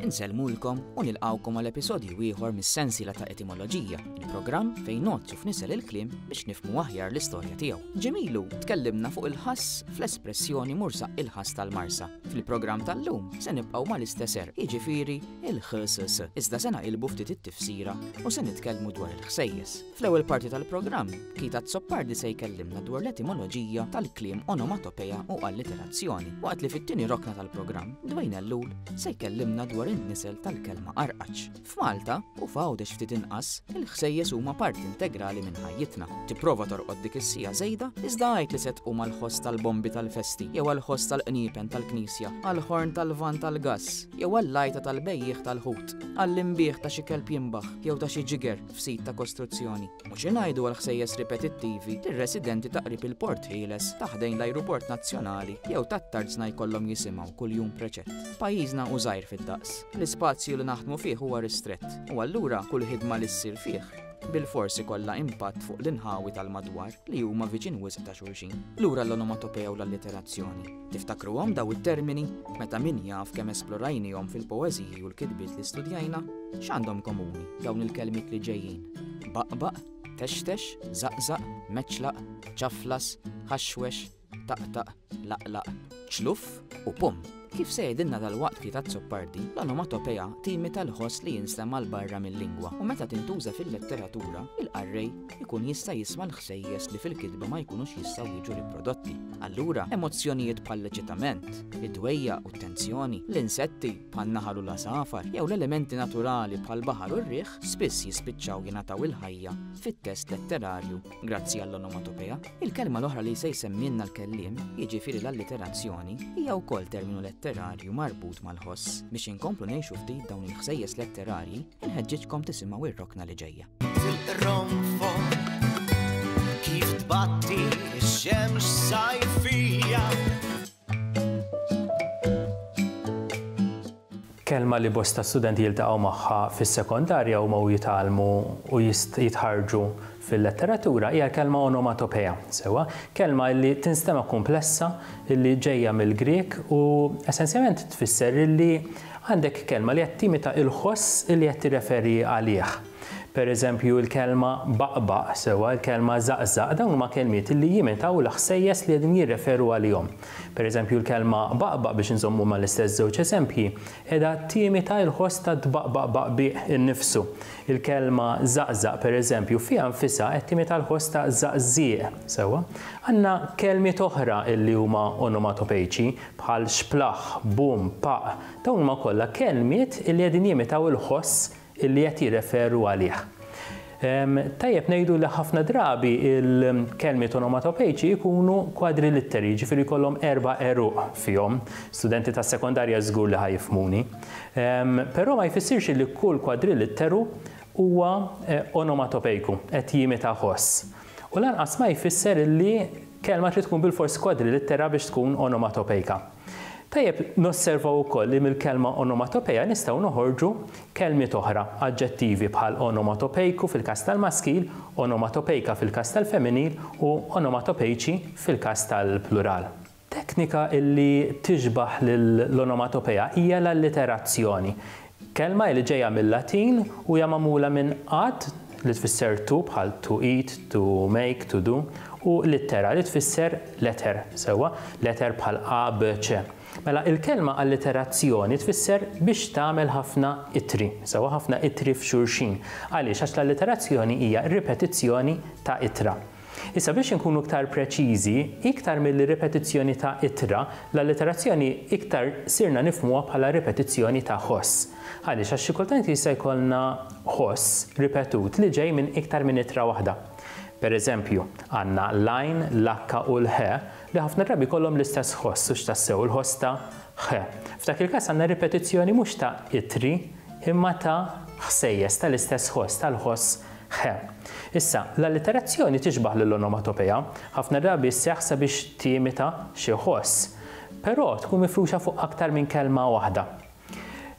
Insellmulkom u nilqgħukom għal episodju ieħor mis-sensiela ta' Etimoloġija, il-programm fejn nozzu f'nisel il-kliem biex nifhmu aħjar l-istorja tiegħu. Ġimilu tkellimna fuq il-ħass fl-espressjoni mursa il-ħass tal-marsa. Fil-programm tal-lum se nibqgħu mal-istess er, jiġifieri il-ħsss. Iżda se naqilbu ftit it-tifsira u se nitkellmu dwar il-ħsejjes. Fl-ewwel parti tal-programm, Keith Azzopardi se jkellimna dwar l-etimoloġija tal-kliem onomatopeja u alliterazzjoni, waqt li fit-tieni rokna tal-programm, Dwayne Ellul se jkellimna dwar in-nisel tal-kelma arqaċ. F'Malta u f'Għawdex ftit inqas, il-ħsejjes huma parti integrali minn ħajjitna. Tipprova torqod dik is-sija żejda, iżda għajt li se tqum għall-ħoss tal-bombi tal-festi, jew għall-ħoss tal-qniepen tal-knisja, għall-ħorn tal-van tal-gass, jew għall-lajta tal-bejjieħ tal-ħut, għall-imbigħ ta' xi kelb jimbaħ jew ta' xi ġiger, f'sit ta' kostruzzjoni. U xi ngħidu għall-ħsejjes ripetittivi li r-residenti ta' qrib il-Port Ħieles, ta' ħdejn l-Ajruport Nazzjonali jew tat-Tarzna jkollhom jisimgħu kuljum preċett. Pajjiżna hu żgħir fid-daqs. L-ispazju li naħdmu fih huwa ristrett, u allura kull ħidma li ssir fih bilfors ikollha impatt fuq l-inħawi tal-madwar li huma viċin wisq ta' xulxin. Lura l-onomatopea u l-alliterazzjoni. Tiftakruhom daw it-termini meta min jaf kemm esplorajnihom fil-poeżiji u l-kitbiet li studjajna? X'għandhom komuni dawn il-kelmiet li ġejjin? Baqbaq, textex, żaqżaq, meċlaq, ċaflas, ħaxwex, taqtaq, laqlaq, ċluff u pum. Kif se jgħidilna dalwaqt Piet Azzopardi, l-onomatopeja timita l-ħoss li jinstema' 'l barra mil-lingwa u meta tintuża fil-letteratura, il-qarrej ikun jista' jisma' l-ħsejjes li fil-kitba ma jkunux jistgħu jiġu riprodotti. Allura, emozzjonijiet bħall-eċitament, id-dwejja u t-tensjoni, l-insetti bħan-naħal u l-għasafar, jew l-elementi naturali bħall-baħar u r-riħ spiss jispiċċaw jingħataw il-ħajja fit-test letterarju grazzi għall-onomatopea. Il-kelma l-oħra li se jsemmielna l-kelliem, jiġifieri l-alliterazzjoni, hija wkoll terminu letterarju marbut mal-ħoss. Biex inkomplu ngħixu ftit dawn il-ħsejjes letterarji, inħeġġiġkom tisimgħu r-rokna li ġejja. kelma li bosta studenti jiltaqgħu magħha fis-sekondarja huma u jitgħallmu u jitħarġu fil-letteratura hija kelma onomatopeja, sewa, kelma li tinstema' komplessa li ġejja mill-Grieg u essenzjalment tfisser li Għandek kelma li qed timita il-ħoss li qed tirreferi għalih. Per eżempju, il-kelma baqbaq, sewwa, il-kelma żaqżaq, dawn huma kelmiet li jimitaw il-ħsejjes li qegħdin jirreferu għalihom. Per eżempju, il-kelma baqbaq, biex inżommu mal-istess żewġ eżempji, qiegħda timita il-ħoss ta' tbaqbaq baqbieq innifsu. Il-kelma żaqżaq, per eżempju, fiha nfisha qed timita l-ħoss ta' żaqżieq, sewwa. Għandna kelmiet oħra li huma onomatopejċi, bħal xplaħ, bum, paqq, dawn huma kollha kelmiet li qegħdin jimitaw il-ħoss li qed jirreferu għalih. Tajjeb ngħidu li ħafna drabi l-kelmiet onomatopejċi jkunu kwadrilitteri, jiġifieri jkollhom erba' għeruq fihom. Studenti tas-sekondarja żgur li ħa jifhmuni. Però ma jfissirx li kull kwadrilitteru huwa onomatopejku, qed jimita ħoss. U lanqas ma jfisser li kelma trid tkun bilfors kwadrilittera biex tkun onomatopejka. Tajjeb nosservaw ukoll li mill-kelma onomatopeja nistgħu noħorġu kelmiet oħra, aġġettivi bħal onomatopejku fil-każ tal-maskil, onomatopejka fil-każ tal-femminil u onomatopejċi fil-każ tal-plural. Teknika li tixbah lill-onomatopeja hija l-alliterazzjoni. Kelma hi li ġejja mil-Latin u hija magħmula minn għadd li tfisser to bħal to eat, to make, to do, u littera li tfisser letter, sewwa, letter bħal A, B, C. Mela, il-kelma alliterazzjoni tfisser biex tagħmel ħafna ittri, sewwa ħafna ittri f'xulxin. Għaliex? Għax l-alliterazzjoni hija ripetizzjoni ta' ittra. Issa biex inkunu iktar preċiżi, iktar milli ripetizzjoni ta' ittra, l-allitterazzjoni iktar sirna nifhmuha bħala ripetizzjoni ta' ħoss. Għaliex? Għax xi kultant jista' jkollna ħoss ripetut li ġej minn iktar minn ittra waħda. Per eżempju, għandna l-għajn, l-h u l-ħ li ħafna drabi jkollhom l-istess ħoss, hux tassew il-ħoss ta' ħ. F'dak il-każ għandna ripetizzjoni mhux ta' ittri imma ta' ħsejjes tal-istess ħoss, tal-ħoss Ħe. Issa, l-alliterazzjoni tixbah lill-onomatopeja, ħafna drabi sseħħ sabiex timita xi ħoss, però tkun mifruxa fuq aktar minn kelma waħda.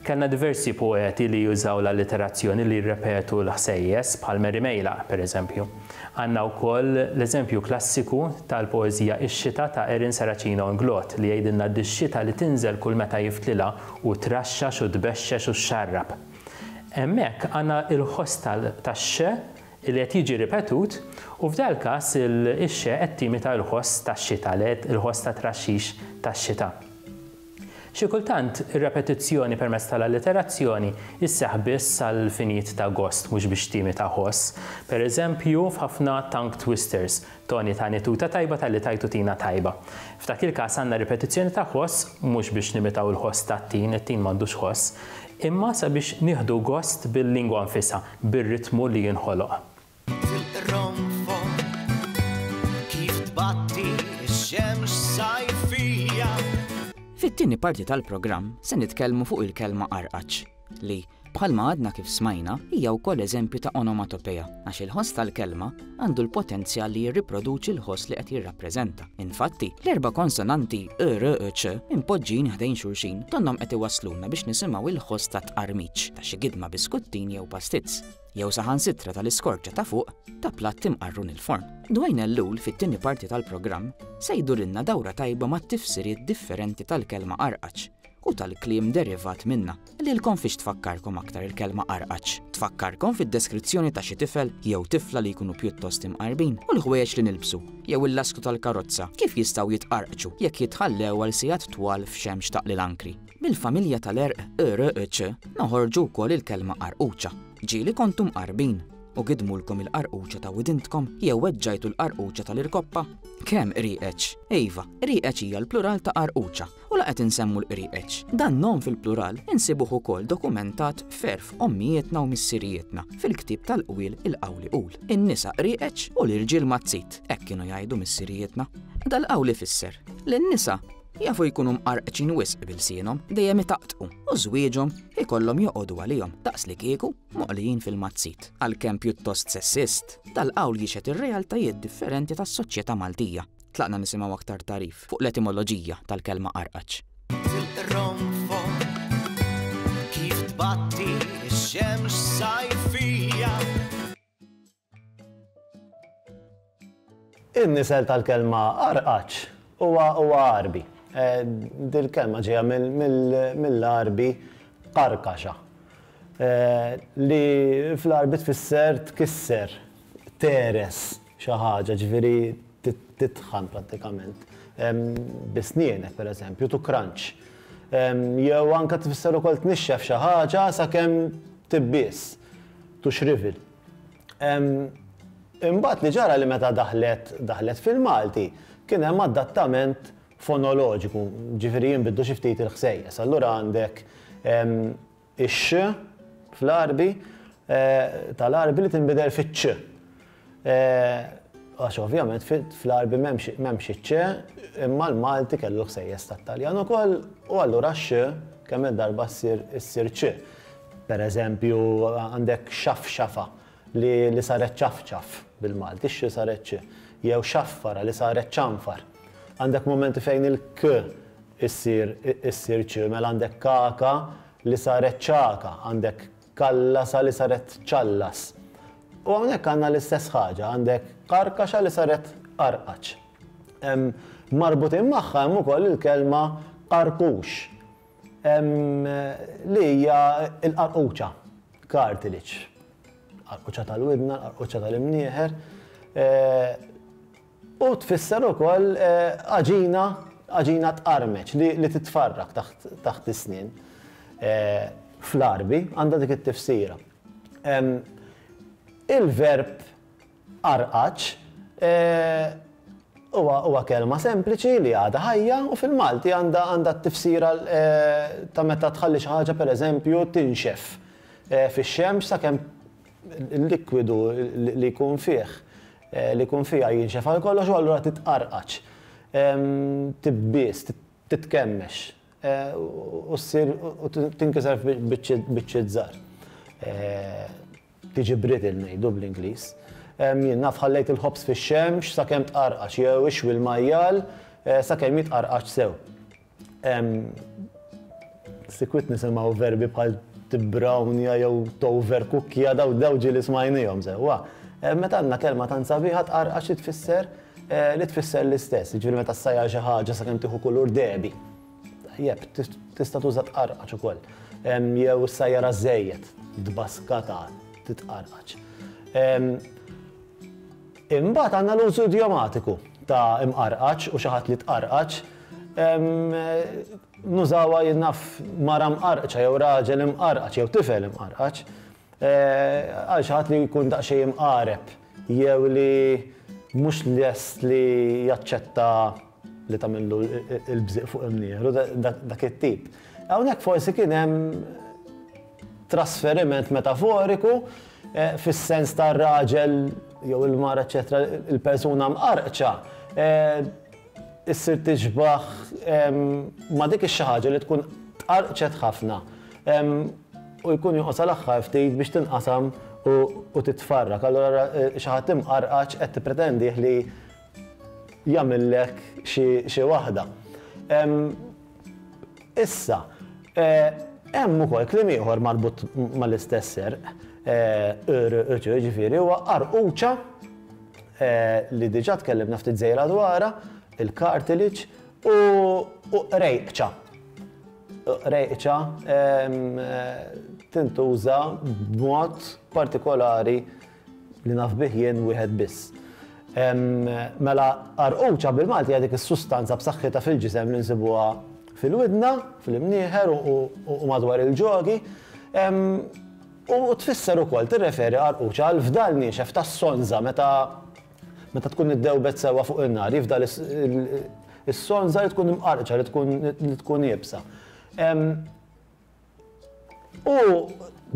Kellna diversi poeti li jużaw l-alliterazzjoni li jirrepetu l-ħsejjes, bħal Mary Meilaq, pereżempju. Għandna wkoll l-eżempju klassiku tal-poeżija Ix-xita ta' Erin Saracino Inglott li jgħidilna dix-xita li tinżel kull meta jiftlilha u traxxax u tbexxex u xxarrab. Hemmhekk għandna l-ħoss tax-xe li qed jiġi ripetut u f'dal-każ ix-xe qed timita l-ħoss tax-xita, il-ħoss tat-traxxix tax-xita. Xi kultant ir-repetizzjoni permezz tal-alliterazzjoni sseħħ biss għal finijiet ta' gost mhux biex timita ħoss, pereżempju f'ħafna tongue twisters, Toni tani tuta tajba talli tajtu tina tajba. F'dak il-każ għandna ripetizzjoni ta' ħoss mhux biex nimitaw il-ħoss tat-tin, it-tin m'għandux ħoss, imma sabiex nieħdu gost bil-lingwa nfisha, bir-ritmu li jinħoloq. Fit-tieni parti tal-programm se nitkellmu fuq il-kelma qarqaċ. li, bħalma għadna kif smajna, hija wkoll eżempju ta' onomatopeja, għax il-ħoss tal-kelma għandu l-potenzjal li jirriproduċi l-ħoss li qed jirrappreżenta. Infatti, l-erba' konsonanti ë, r, ë, ċ impoġġin ħdejn xulxin donnhom qed iwassluna biex nisimgħu l-ħoss ta' tqarmiċ ta' xi gidma biskuttin jew pastizz, jew saħansitra tal-iskorġa ta' fuq ta' platt imqarrun il-forn. Dwayne Ellul fit-tieni parti tal-programm se jdurilna dawra tajba mat-tifsiriet differenti tal-kelma qarqaċ u tal-kliem derivat minnha. Lilkom fiex tfakkarkom aktar il-kelma qarqaċ? Tfakkarkom fid-deskrizzjoni ta' xi tifel jew tifla li jkunu pjuttost imqarbin u l-ħwejjeġ li nilbsu jew il-lasku tal-karozza kif jistgħu jitqarqċu jekk jitħallew għal sigħat twal f'xemx taqli l-ankri. Mill-familja tal-għerq ërqċ noħorġu wkoll il-kelma qarquċa. Ġieli kontu mqarbin u gidmulkom il-qarquċa ta' widintkom jew weġġajtu l-qarquċa tal-irkoppa? Kemm qrieqeċ? Iva, qrieqeċ hija l-plural ta' qarquċa. u la qed insemmu l-qrieqeċ. Dan nom fil-plural insibuh ukoll dokumentat f'għerf ommijietna u missirijietna fil-ktieb tal-qwiel il-qawli qul. In-nisa qrieqeċ u l-irġiel mazzit, hekk kienu jgħidu missirijietna. Dal-qawl ifisser li n-nisa jafu jkunu mqarqċin wisq b'ilsienhom, dejjem itaqtqu, u żwieġhom ikollhom joqogħdu għalihom daqslikieku moqlijin fil-mazzit. Għalkemm pjuttost sessist, dal-qawl jixhed ir-realtajiet differenti tas-soċjetà Maltija. Tlaqna nisimgħu aktar tagħrif fuq l-etimoloġija tal-kelma qarqaċ. Tilqronfok kif tbatti x-xemx sajfija. In-nisel tal-kelma qarqaċ huwa Għarbi. Dil-kelma ġejja mill-Għarbi qarkaxa li fl-Għarbi tfisser tkisser, teres. xi ħaġa, ġifieri titħan prattikament bi snienek pereżempju, tu crunch. Jew anke tfisser ukoll tnixxef xi ħaġa sakemm tibbies, tu xrivel. Imbagħad li ġara li meta daħlet daħlet fil-Malti kien hemm adattament fonoloġiku, ġifieri jinbidlu xi ftit il-ħsejjes. Allura għandek Ix-x fl-Għarbi tal-Għarbi li tinbidel fiċ-ċ. Għax ovvjament fl-Għarbi m'hemmx iċ-ċ, imma l-Malti kellu l-ħsejjes tat-Taljan ukoll u allura x-x kemm-il darba ssir ċ. Pereżempju, għandek xafxafa. li li saret ċafċaf, bil-Malti, x li saret ċ, jew xaffara, li saret ċanfar. Għandek mumenti fejn il-k issir issir ċ, mela għandek kaka li saret ċaka, għandek kallasa li saret ċallas. U hawnhekk għandna l-istess ħaġa, għandek karkaxa li saret qarqaċ. Marbutin magħha hemm ukoll il-kelma qarqux. Li hija l-qarquċa, cartilage. Qarquċa tal-widna, l-qarquċa tal-imnieħer. U tfisser ukoll għaġina, għaġina tqarmeċ li titfarrak taħt is-snien. Fl-Għarbi għandha dik it-tifsira. Il-verb Għarqaċ, Eehh, huwa kelma sempliċi li għadha ħajja u fil-Malti għandha t-tifsira ta' meta tħalli xi ħaġa pereżempju tinxef fix-xemx sakemm il-likwidu li jkun fih, li jkun fiha jinxef għal kollox u allura titqarqaċ, tibbies, titkemmex u ssir, tinkiser f'biċċiet żgħar. Tiġi brittle ngħidu bl-Ingliż. Jien naf ħallejt il-ħobż fix-xemx sakemm tqarqax jew ixwi l-majjal sakemm jitqarqax sew. Sikwit nisimgħu verbi bħal tibbrawnja jew toverkukkja daw ġieli smajniehom sewwa. Meta għandna kelma tant sabiħa tqarqax li tfisser li tfisser l-istess, jiġifieri meta ssajjar xi ħaġa sakemm tieħu kulur dehbi. Jep, tista' tuża tqarqaċ ukoll. Jew is-sajjara żejjed, tbaskata, titqarqaċ. Imbagħad għandna l-użu idiomatiku ta' imqarqaċ u xi ħadd li tqarqaċ. Nużawha jien naf mara mqarqċa jew raġel imqarqaċ jew tifel imqarqaċ. Għal xi ħadd li jkun daqsxejn imqareb jew li mhux lest li jaċċetta li tagħmillu l-bżieq fuq imnieħru, dak it-tip. Hawnhekk forsi kien hemm trasferiment metaforiku fis-sens tar-raġel jew il-mara eċċetera, il-persuna mqarqċa. issir tixbah ma' dik ix-xi ħaġa li tkun tqarrqċet ħafna u jkun jonqos għal aħħar ftit biex tinqasam u titfarrak. Allura ara xi ħadd imqarqaċ qed tippretendih li jagħmillek xi waħda. Issa, hemm ukoll kliem ieħor marbut mal-istess serq, irqċ, jiġifieri huwa qarquċa li diġà tkellimna ftit żgħira dwarha, il-cartilage, u qrejqċa. Qrejqċa tintuża b'mod partikolari. Li naf bih jien wieħed biss. Mela qarquċa bil-Malti hija dik is-sustanza b'saħħitha fil-ġisem li nsibuha fil-widna, fl-imnieħer u madwar il-ġogi. U tfisser ukoll tirreferi qarquċa għal fdal niexef tas-sonża meta meta tkun iddewbet sewwa fuq in-nar, jifdal is-sonża li tkun imqarqċa li tkun iebsa. U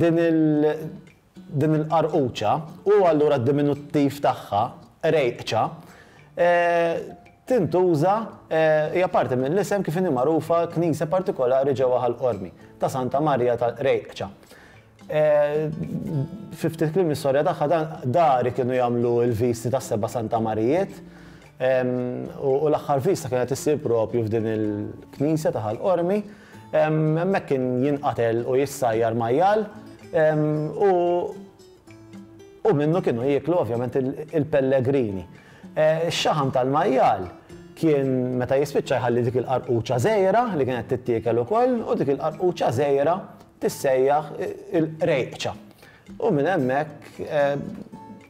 din il- Din il-qarquċa, u allura d-diminuttiv tagħha, qrejqċa, tintuża, hija parti mill-isem kif inhi magħrufa knisja partikolari ġewwa Ħal Qormi, ta' Santa Marija tal-Qrejqċa. Fi ftit kliem l-istorja tagħha, dari kienu jagħmlu l-visti tas-seba' Santa Marijiet, U l-aħħar viżta kienet issir proprju f'din il-knisja ta' Ħal Qormi. Hemmhekk kien jinqatel u jissajjar majjal u minnu kienu jieklu ovvjament il-pellegrini. Ix-xaħam tal-majjal kien meta jispiċċa jħalli dik il-qarquċa żgħira li kienet tittiekel ukoll u dik il-qarquċa żgħira tissejjaħ il-qrejqċa. U minn hemmhekk